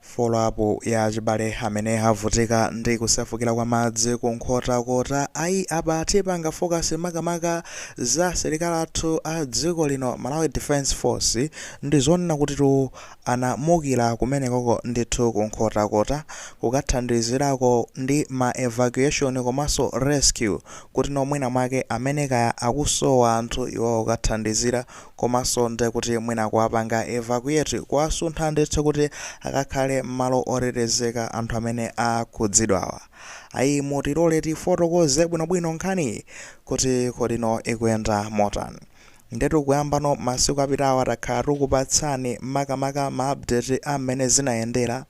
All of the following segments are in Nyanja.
Foloapu ya achibale amene avutika ndi kusefukira kwa madzi ku Nkhotakota, ayi apa tipanga fokasi makamaka za asilikali athu a dziko lino, Malawi Defence Force, ndizonena kutitu anamukira kumenekoko ndithu ku Nkhotakota kukathandizirako ndi ma evacuation komanso rescue kuti no mwina mwake amene kaya akusowa anthu iwowo kukathandizira Komanso ndekuti mwina kuwapanga evacuate, kuwasuntha ndithu kuti akakhale mmalo otetezeka anthu amene akhudzidwawa. Ayi mutilole tifotokoze bwinobwino nkhaniyi kuti kodi no ikuyenda motani. Ndetu kuyamba no masiku apitawa takhala tukupatsani makamaka ma update a mmene zinayendera,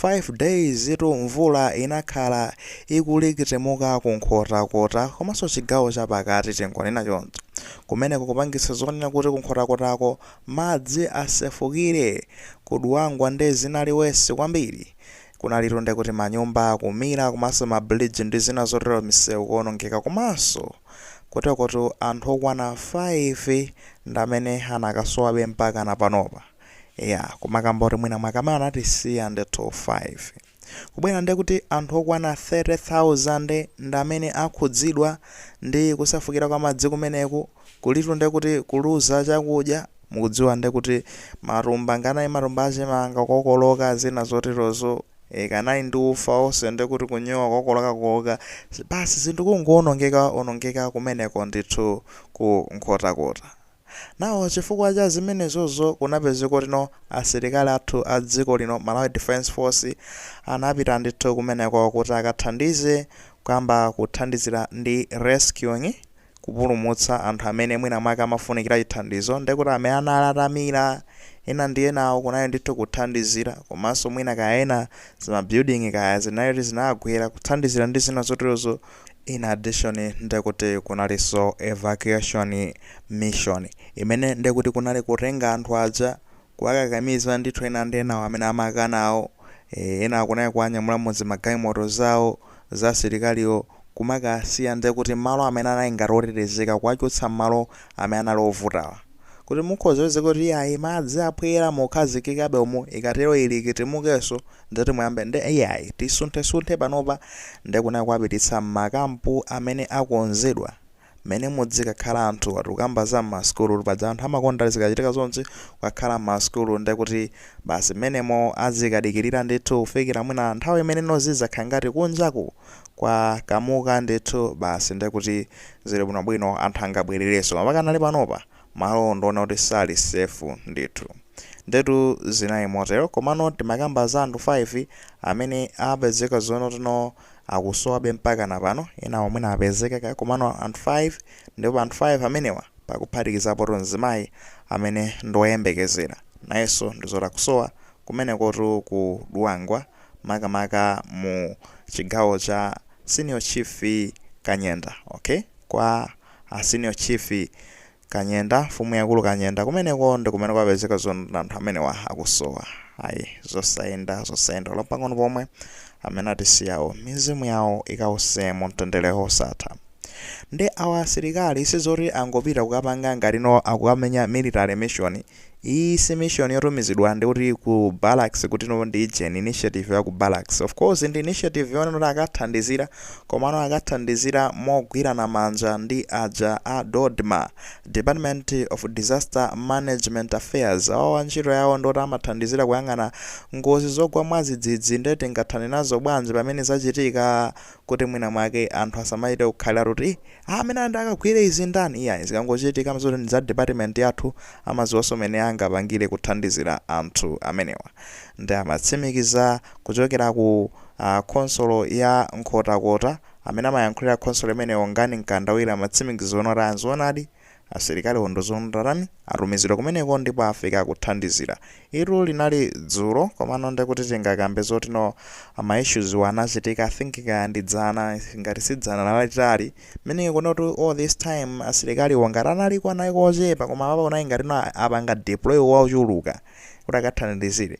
5 days itu mvula inakhala ikulikitimuka ku Nkhotakota komanso chigawo chapakati tingonena choncho. Kumeneko kupangitsa zonena kuti ku Nkhotakotako madzi asefukire, ku Dwangwa nde zinali wesi kwambiri. Kunalitu ndekuti manyumba kumira komanso ma bridge ndi zina zotero misewu kuonongeka komanso kutikotu anthu okwana 5 ndamene anakasowabe mpakana panopa. Eya kumakamba kuti mwina mwake amene anatisiya ndithu 5. kubwera ndekuti anthu okwana 30,000 ndamene akhudzidwa ndi kusefukira kwa madzi kumeneku kulitu ndekuti kuluza chakudya mukudziwa ndekuti matumba nganani matumba achimanga kukokoloka zina zoterozo ee kanani ndi ufa onse ndekuti kunyowa kukokoloka kooka basi zinthu kungoonongeka onongeka kumeneko ndithu ku Nkhotakota. Now chifukwa cha zimenezozo kunapezeka kuti no asilikali athu a dziko lino Malawi Defence Force anapita ndithu kumeneko kuti akathandize kuyamba kuthandizira ndi rescuing kupulumutsa anthu amene mwina mwake amafunikira chithandizo ndekuti amene anali atamira ena ndi enawo kunali ndithu kuthandizira komanso mwina kaya ena zima building kaya zinali kuti zinagwera kuthandizira ndi zina zoterozo In addition ndekuti kunalinso evacuation mission imene ndekuti kunali kutenga anthu aja kuwakakamiza ndithu ena ndi enawo amene amakanawo e, ena kunali kuwanyamula mu zimagalimoto zawo za asilikaliwo kumakasiya ndekuti malo amene anali ngati otetezeka kuwachotsa m'malo amene anali ovutawa. kuti mukhoza kupezeka kuti iyayi madzi aphwera mukhazikikabe umu ikatero ilikitimukenso ndeti muyambe nde iyayi tisunthesunthe panopa nde kunali kuwapititsa m'makampu amene akonzedwa mmene muzikakhala anthu atikukamba za m'masukulu paja anthu amakonda zikachitika zonchi kukakhala m'masukulu nde kuti basi mmenemo azikadikirira ndithu kufikira mwina nthawi imene no zizakhala ngati kunjaku kwakamuka ndithu basi ndekuti zili bwino bwino anthu angabwererenso mapakanali panopa malowo ndikuona kuti sali safe ndithu ndetu zinali motero komano timakamba za anthu 5 amene apezeka zoona kuti no akusowabe mpakana pano enawo mwina apezeka kaya komano anthu 5 ndipo pa anthu 5 amenewa pakuphatikizapotu mzimayi amene ndiwoyembekezera nayenso ndizoti akusowa kumenekotu ku Dwangwa makamaka mu chigawo cha Senior Chief Kanyenda ok kwa a Senior Chief Kanyenda mfumu yaikulu Kanyenda kumeneko ndi kumene kwapezeka zoona anthu amenewa akusowa ayi zosayenda zosayenda olo pang'ono pomwe amene atisiyawo mizimu yawo ikause mu mtendere wosatha ndi awa asilikali sizoti angopita kukapanga ngati no akukamenya military mission Iyi si mission yotumizidwa ndi kuti ku barracks kuti no ndi ijeni initiative ya ku barracks. Of course ndi initiative yonena kuti akathandizira komano akathandizira mogwirana manja ndi aja a DoDMA, Department of Disaster Management Affairs. Awawa ntchito yawo ndoti amathandizira kuyang'ana ngozi zogwa mwadzidzidzi nde tingathane nazo bwanji pamene zachitika kuti mwina mwake anthu asamachite kukhalira kuti Ah amene ati akagwire izi ndani? Iyayi zikangochitika amadziwa kuti ndi za department yathu, amadziwanso mmene angapangire kuthandizira anthu amenewa. Nde amatsimikiza kuchokera ku ah khonsolo ya Nkhotakota, amene amayankhulira khonsolo imeneyo Ngani Mkandawire amatsimikiza zoona kuti ah nzoonadi Asilikaliwo nduzunu tatani? atumizidwa kumeneko ndipo afika kuthandizira. Ilo linali dzulo komano ndekuti tingakambe zoti no ma issues wa anachitika I think kaya ndi dzana ngati si dzana lalitali kunena kuti no all this time asilikaliwo ngati analiko analiko ochepa koma apapa kunali ngati no apanga deploy ochuluka kuti akathandizire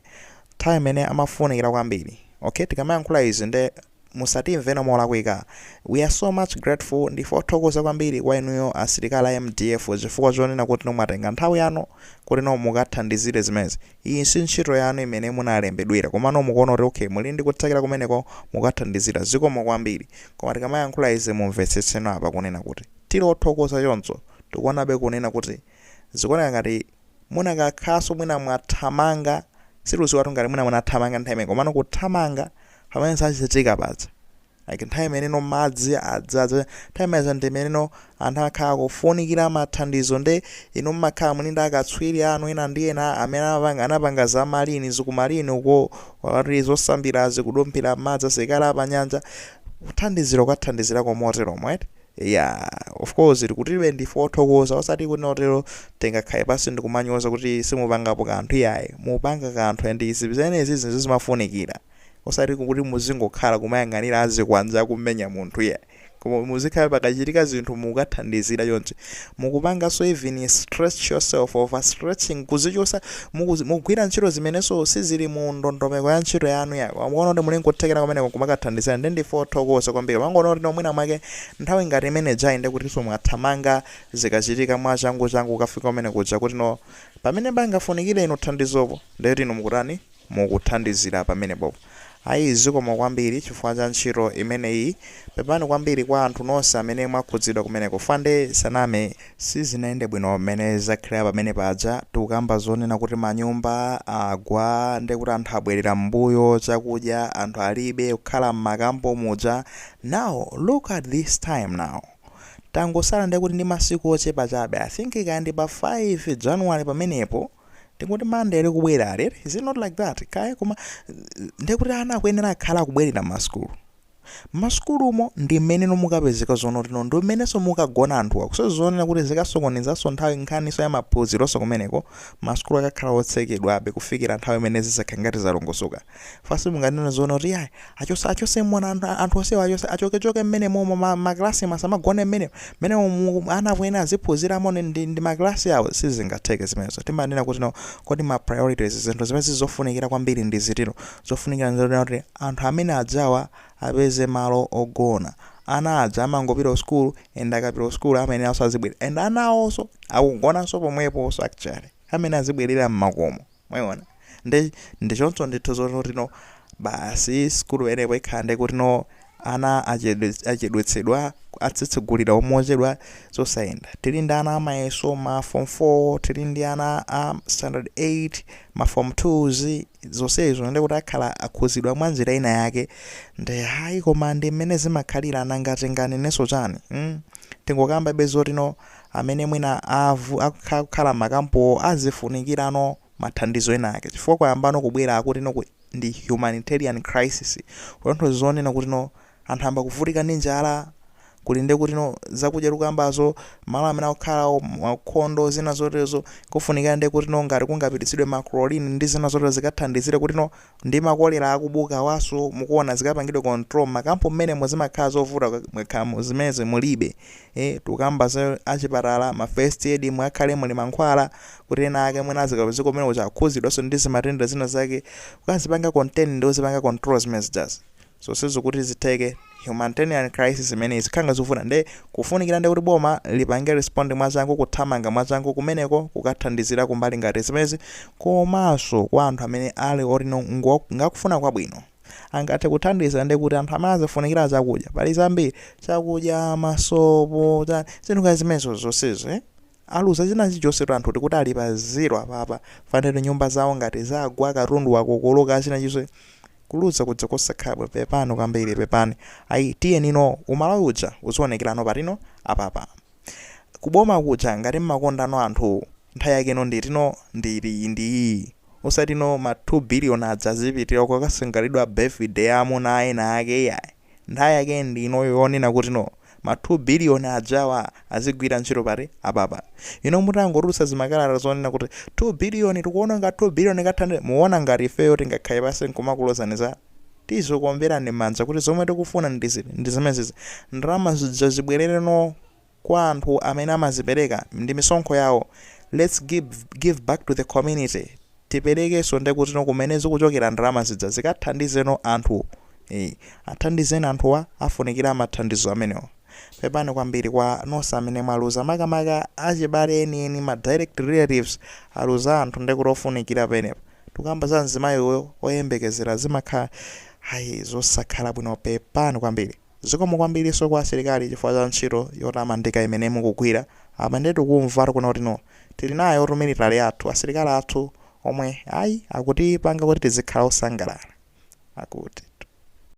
nthawi imene amafunikira kwambiri. Okay tikamayankhula izi nde musatimveno molakwika we are so much grateful ndife othokoza kwambiri kwa inuyo asilikali a mdf chifukwa chonena kutino mwatenga nthawi yanu kutino mukathandizire zimenezi iyi si ntchito yanu imene munalembedwera komano mukuona kuti okay muli ndi kuthekera kumeneko mukathandizira zikomo kwambiri koma tikamayankhula izi mumvetsetseno apa kunena kuti tili othokoza choncho tikuonabe kunena kuti zikuoneka ngati munakakhoza mwina mwathamanga, sitikuziwatu ngati mwina munathamanga nthawi imeneyo komano kuthamanga pamene zachitika paja like nthawi imeneno madzi adzaza nthawi imenezo ndi imeneno anthu akhala akufunikira mathandizo nde inu mmakhala muli ndi akatswiri anu ena ndi ena amene anapanga, anapanga za marine za ku marine uko wati zosambirazi kudumphira mmadzi asilikali a pa nyanja kuthandizira kukathandizirako moteromo eti Eya, of course tikutibe, ndife othokoza osati kuti no tero tingakhale pansi ndikumanyoza kuti simupangapo kanthu iyayi, mupanga kanthu and izi zimenezi zinthu zimafunikira osati kuti muzingokhala kumayang'anira azikwanja akumenya munthu iyayi koma muzikhala pakachitika zinthu mukukathandizira chonchi mukupanganso even stretch yourself over stretching kuzichotsa mukuzi, mukugwira ntchito zimenenso sizili mu ndondomeko ya ntchito yanu yanu koma mukuona kuti muli nkuthekera kumeneko kumakathandizira ndi ndife othokoza kwambiri mangoona kuti no mwina mwake nthawi ngati imene ijayi nde kutinso mwathamanga zikachitika mwachangu changu kukafika kumene kuja kuti no pamene pangafunikire inu thandizopo ndekuti inu mukutani mukuthandizira pamenepo. Ayi zikomo kwambiri chifukwa cha ntchito imeneyi. Pepani kwambiri kwa anthu nonse amene mwakhudzidwa kumeneko fande sinaname sizinayende bwino mmene zakhalira pamene paja tikukamba zonena kuti manyumba agwa ndekuti anthu abwerera mmbuyo chakudya anthu alibe kukhala mmakampo muja now look at this time now tangosala ndekuti ndi masiku ochepa chabe I think kaya ndi pa 5 January pamenepo ndikuti Monday ili kubwerayi is it not like that kaya koma ndikuti ana akuyenera akhala akubwerera masukulu masukulumo ndi mmeneno mukapezeka zoona kuti no ndi mmenenso mukagona anthu akuso zonena kuti zikasokonezanso nthawi nkhaniso ya maphunzironso kumeneko masukulu akakhala otsekedwabe kufikira nthawi imene zizakhala ngati zalongosoka Chifukwa simunganene zoona kuti iyayi achotse achotse mwana anthu, anthu onsewa achotse achoke choke mmene momo ma, ma class musamagone mmene mmene umu ana akuyenera aziphunziramo ne ndi, ndi ma class awo sizingatheke zimenezo. Timanena kuti no kodi ma priorities zinthu zimene zizofunikira kwambiri ndi ziti no. Zofunikira nzonena kuti anthu amene ajawa apeze malo ogona. Ana aja amangopita ku school and akapita ku school amayeneranso azibwera and ana awoso akugonanso pomweposo actually amene azibwerera mmakomo. Mwayiona? Nde, ndi choncho ndithu zoti no basi sukulu imene ipo ikhala nde kutino ana achedwets, achedwetsedwa, atsegulira mochedwa, zosayenda. Tiri ndi ana a mayeso, ma form 4, tiri ndi ana a standard 8, ma form 2's, zonsezo nde kuti akhala akhuzidwa mwa njira ina yake. Nde ayi koma ndi mmene zimakhalira, nanga tinganenenso chani? Hmm? Tingokambabe zotino amene mwina akukhala m'makampuwo azifunikirano mathandizo enaake, chifukwa kwayambano kubwera akutino ndi humanitarian crisis, kutanthauza zonena kutino anthu ayamba kuvutika ndi njala, kuli ndi kutino zakudya tikukambazo, malo amene akukhalawo aukhondo, zina zoterezo, kufunikira ndi kutino ngati kungapititsidwe ma chlorine ndi zina zoterezo zikathandizire kutino Ndi ma cholera akubukawaso mukuona zikapangidwe control mmakampu mmenemo zimakhala zovuta mukakhala zimenezi mulibe ee tukamba za achipatala ma first aid mukhale muli mankhwala kuti ena ake mwina azikapezeka kumenekuja akhuzidwaso ndizimatenda zina zake kukazipanga contain ndi kuzipanga control zimene zijazi zonsezo kuti zitheke humanitanian crisis imeneyi zikhala zovuta nde kufunikira ndi kuti boma lipange respond mwachangu kuthamanga mwachangu kumeneko kukathandizira kumbali ngati zimezi komanso kwa anthu amene ali oti no ngakufuna kwabwino angathe kuthandiza nde kuti anthu amene azifunikira chakudya pali zambiri chakudya masopo zinthu ngati zimenezo zonsezo eh? Aluza china chilichonse anthu tikuti ali pa zero apapa panopa nyumba zawo ngati zagwa katundu wakokoloka china chilichonse kuluza kuja kosakhala bwino pepani kwambiri pepani ayi tiyeni no umalawi uja uzionekela no pati no apapa Ku boma kuja ngati mmakonda no anthu nthawi yake no nditi no ndi iti ndiyi osati no ma 2 billion aja azipitila kukasangalalira birthday ya amuna a ena ake iyayi. Nthawi yake ndi inoyo yonena kuti no ma 2 billion ajawa azigwira ntchito pati apapa. Inu mutangotulutsa zimakalata zonena kuti 2 billion tikuona ngati 2 billion kathandizeni muona ngati ifeyo tingakhale pansi nkumakulozani zala? Tizokuomberani mmanja kuti zomwe tikufuna ndi ziti? Ndi zimenezizi. Ndalama zija zibwelere noo. kwa anthu amene amazipereka ndi misonkho yawo let's give back to the community tiperekeso ndekuti no kumene zikuchokera ndalama zija zikathandize no anthu ee athandizeni anthuwa afunikira mathandizo amenewa pepani kwambiri kwa nonse amene mwaluza makamaka achibale enieni ma direct relatives aluza anthu ndekuti ofunikira penepa tikukamba za mzimayi uyu oyembekezera zimakhala ayi zosakhala bwino pepani kwambiri. Zikomo kwambilinso kwa asilikali chifukwa cha ntchito yotamandika imene mukugwira. Apa ndiye tikumvatu kuno kuti no. Tili nayotu military yathu, asilikali athu omwe, ayi, akutipanga kuti tizikhala osangalala. Akuti.